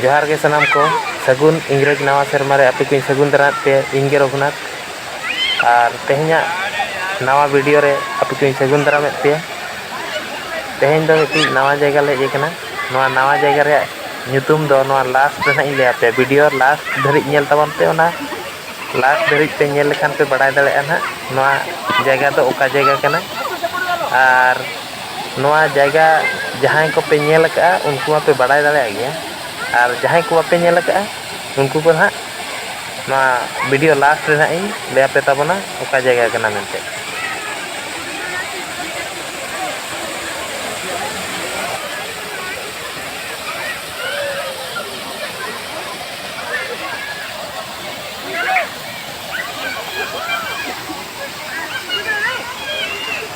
ᱡᱚᱦᱟᱨ ᱜᱮ ᱥᱟᱱᱟᱢ ᱠᱚ ᱥᱟᱹᱜᱩᱱ ᱤᱝᱨᱮᱡᱽ ᱱᱟᱣᱟ ᱥᱮᱨᱢᱟ ᱨᱮ ᱟᱯᱮ ᱠᱚᱧ ᱥᱟᱹᱜᱩᱱ ᱫᱟᱨᱟᱢᱮᱫ ᱯᱮ ᱤᱧ ᱜᱮ ᱨᱚᱜᱷᱩᱱᱟᱛᱷ ᱟᱨ ᱛᱮᱦᱮᱧᱟᱜ ᱱᱟᱣᱟ ᱵᱷᱤᱰᱤᱭᱳ ᱨᱮ ᱟᱯᱮ ᱠᱚᱧ ᱥᱟᱹᱜᱩᱱ ᱫᱟᱨᱟᱢᱮᱫ ᱯᱮᱭᱟ ᱛᱮᱦᱮᱧ ᱫᱚ ᱢᱤᱫᱴᱤᱡ ᱱᱟᱣᱟ ᱡᱟᱭᱜᱟ ᱞᱮ ᱦᱮᱡ ᱟᱠᱟᱱᱟ ᱱᱚᱣᱟ ᱱᱟᱣᱟ ᱡᱟᱭᱜᱟ ᱨᱮᱭᱟᱜ ᱧᱩᱛᱩᱢ ᱫᱚ ᱱᱚᱣᱟ ᱞᱟᱥᱴ ᱨᱮ ᱦᱟᱸᱜ ᱤᱧ ᱞᱟᱹᱭ ᱟᱯᱮᱭᱟ ᱵᱷᱤᱰᱤᱭᱳ ᱞᱟᱥᱴ ᱫᱷᱟᱹᱨᱤᱡ ᱧᱮᱞ ᱛᱟᱵᱚᱱ ᱯᱮ ᱚᱱᱟ ᱞᱟᱥᱴ ᱫᱷᱟᱹᱨᱤᱡ ᱯᱮ ᱧᱮᱞ ᱞᱮᱠᱷᱟᱱ ᱯᱮ ᱵᱟᱲᱟᱭ ᱫᱟᱲᱮᱭᱟᱜᱼᱟ ᱦᱟᱸᱜ ᱱᱚᱣᱟ ᱡᱟᱭᱜᱟ ᱫᱚ ᱚᱠᱟ ᱡᱟᱭᱜᱟ ᱠᱟᱱᱟ ᱟᱨ ᱱᱚᱣᱟ ᱡᱟᱭᱜᱟ ᱡᱟᱦᱟᱸᱭ ᱠᱚᱯᱮ ᱧᱮᱞ ᱟᱠᱟᱫᱼᱟ ᱩᱱᱠᱩ ᱢᱟᱯᱮ ᱵᱟᱰᱟᱭ ᱫᱟᱲᱮᱭᱟᱜ ᱜᱮᱭᱟ ᱟᱨ ᱡᱟᱦᱟᱸᱭ ᱠᱚ ᱵᱟᱯᱮ ᱧᱮᱞ ᱟᱠᱟᱫᱼᱟ ᱩᱱᱠᱩ ᱠᱚ ᱦᱟᱸᱜ ᱱᱚᱣᱟ ᱵᱷᱤᱰᱤᱭᱳ ᱞᱟᱥᱴ ᱨᱮ ᱦᱟᱸᱜ ᱤᱧ ᱞᱟᱹᱭ ᱟᱯᱮ ᱛᱟᱵᱚᱱᱟ ᱚᱠᱟ ᱡᱟᱭᱜᱟ ᱠᱟᱱᱟ ᱢᱮᱱᱛᱮ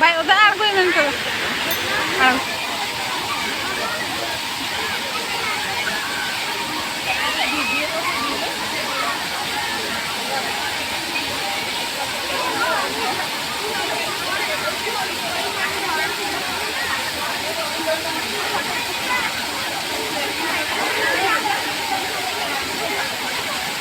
ᱵᱟᱭ ᱚᱫᱟ ᱟᱬᱜᱚᱭ ᱢᱮᱱ ᱠᱟᱫᱟ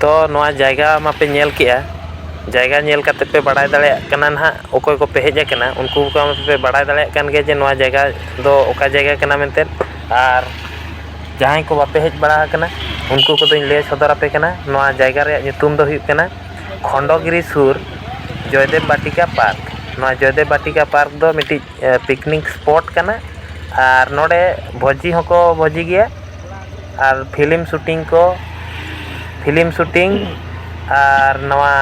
ᱛᱚ ᱱᱚᱣᱟ ᱡᱟᱭᱜᱟ ᱢᱟᱯᱮ ᱧᱮᱞ ᱠᱮᱜᱼᱟ ᱡᱟᱭᱜᱟ ᱧᱮᱞ ᱠᱟᱛᱮ ᱯᱮ ᱵᱟᱲᱟᱭ ᱫᱟᱲᱮᱭᱟᱜ ᱠᱟᱱᱟ ᱱᱟᱦᱟᱜ ᱚᱠᱚᱭ ᱠᱚᱯᱮ ᱦᱮᱡ ᱠᱟᱱᱟ ᱩᱱᱠᱩ ᱠᱚ ᱯᱮ ᱵᱟᱲᱟᱭ ᱫᱟᱲᱮᱭᱟᱜ ᱠᱟᱱ ᱜᱮᱭᱟ ᱡᱮ ᱱᱚᱣᱟ ᱡᱟᱭᱜᱟ ᱫᱚ ᱚᱠᱟ ᱡᱟᱭᱜᱟ ᱠᱟᱱᱟ ᱢᱮᱱᱛᱮ ᱟᱨ ᱡᱟᱦᱟᱸᱭ ᱠᱚ ᱵᱟᱯᱮ ᱦᱮᱡ ᱵᱟᱲᱟ ᱠᱟᱱᱟ ᱩᱱᱠᱩ ᱠᱚᱫᱚᱧ ᱞᱟᱹᱭ ᱥᱚᱫᱚᱨ ᱟᱯᱮ ᱠᱟᱱᱟ ᱱᱚᱣᱟ ᱡᱟᱭᱜᱟ ᱨᱮᱭᱟᱜ ᱧᱩᱛᱩᱢ ᱫᱚ ᱦᱩᱭᱩᱜ ᱠᱟᱱᱟ ᱠᱷᱚᱱᱰᱚ ᱜᱤᱨᱤ ᱥᱩᱨ ᱡᱚᱭᱫᱮᱵᱽ ᱵᱟᱴᱤᱠᱟ ᱯᱟᱨᱠ ᱱᱚᱣᱟ ᱡᱚᱭᱫᱮᱵᱽ ᱵᱟᱴᱤᱠᱟ ᱯᱟᱨᱠ ᱫᱚ ᱢᱤᱫᱴᱤᱡ ᱯᱤᱠᱱᱤᱠ ᱥᱯᱚᱴ ᱠᱟᱱᱟ ᱟᱨ ᱱᱚᱰᱮ ᱵᱷᱚᱡᱤ ᱦᱚᱸᱠᱚ ᱵᱷᱚᱡᱤ ᱜᱮᱭᱟ ᱟᱨ ᱯᱷᱤᱞᱤᱢ ᱥᱩᱴᱤᱝ ᱠᱚ ᱯᱷᱤᱞᱤᱢ ᱥᱩᱴᱤᱝ ᱟᱨ ᱱᱚᱣᱟ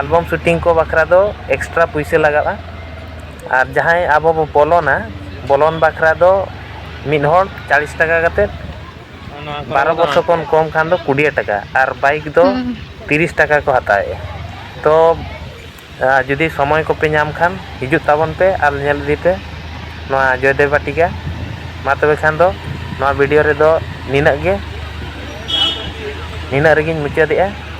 ᱮᱞᱵᱟᱢ ᱥᱩᱴᱤᱝ ᱠᱚ ᱵᱟᱠᱷᱨᱟ ᱫᱚ ᱮᱠᱥᱴᱨᱟ ᱯᱩᱭᱥᱟᱹ ᱞᱟᱜᱟᱜᱼᱟ ᱟᱨ ᱡᱟᱦᱟᱸᱭ ᱟᱵᱚ ᱵᱚᱱ ᱵᱚᱞᱚᱱᱟ ᱵᱚᱞᱚᱱ ᱵᱟᱠᱷᱨᱟ ᱫᱚ ᱢᱤᱫ ᱦᱚᱲ ᱪᱟᱞᱤᱥ ᱴᱟᱠᱟ ᱠᱟᱛᱮᱫ ᱵᱟᱨᱚ ᱵᱚᱪᱷᱚᱨ ᱠᱷᱚᱱ ᱠᱚᱢ ᱠᱷᱟᱱ ᱫᱚ ᱠᱩᱰᱤᱭᱟᱹ ᱴᱟᱠᱟ ᱟᱨ ᱵᱟᱭᱤᱠ ᱫᱚ ᱛᱤᱨᱤᱥ ᱴᱟᱠᱟ ᱠᱚ ᱦᱟᱛᱟᱣᱮᱫᱼᱟ ᱛᱳ ᱟᱨ ᱡᱩᱫᱤ ᱥᱚᱢᱚᱭ ᱠᱚᱯᱮ ᱧᱟᱢ ᱠᱷᱟᱱ ᱦᱤᱡᱩᱜ ᱛᱟᱵᱚᱱ ᱯᱮ ᱟᱨ ᱧᱮᱞ ᱤᱫᱤ ᱯᱮ ᱱᱚᱣᱟ ᱡᱚᱭᱫᱮᱵᱽ ᱵᱟᱴᱤᱠᱟ ᱢᱟ ᱛᱚᱵᱮ ᱠᱷᱟᱱ ᱫᱚ ᱱᱚᱣᱟ ᱵᱷᱤᱰᱤᱭᱳ ᱨᱮᱫᱚ ᱱᱤᱱᱟᱹᱜ ᱜᱮ ᱱᱤᱱᱟᱹᱜ ᱨᱮᱜᱮᱧ ᱢᱩᱪᱟᱹᱫᱮᱜᱼᱟ